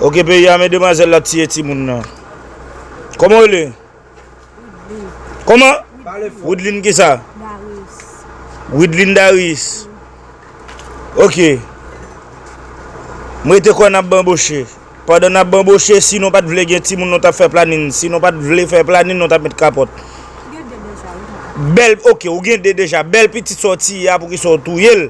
Ok peyi a men demwazel la tiye timoun nan. Koman ou rele? Widline. Koman? Widline kisa? Darius. Widline Darius. Ok. Mwen te kon ap banboche. Padan ap banboche si nou pat vle gen timoun nou tap fè planin. Si nou pat vle fè planin nou tap met kapot. Gen de deja. Bel ok ou gen de deja. Bel pitit sa ou tiye a poukisa ou touyel?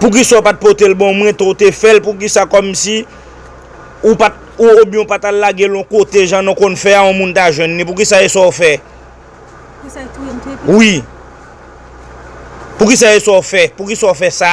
Poukisa ou pat potel bon mwen to te fel poukisa komsi ou pat ou oubyen ou pat al lagel yon kote jan nou konn fè a yon moun ta jwenn li poukisa e sa ou fè wi poukisa e sa ou fè poukisa ou fè sa.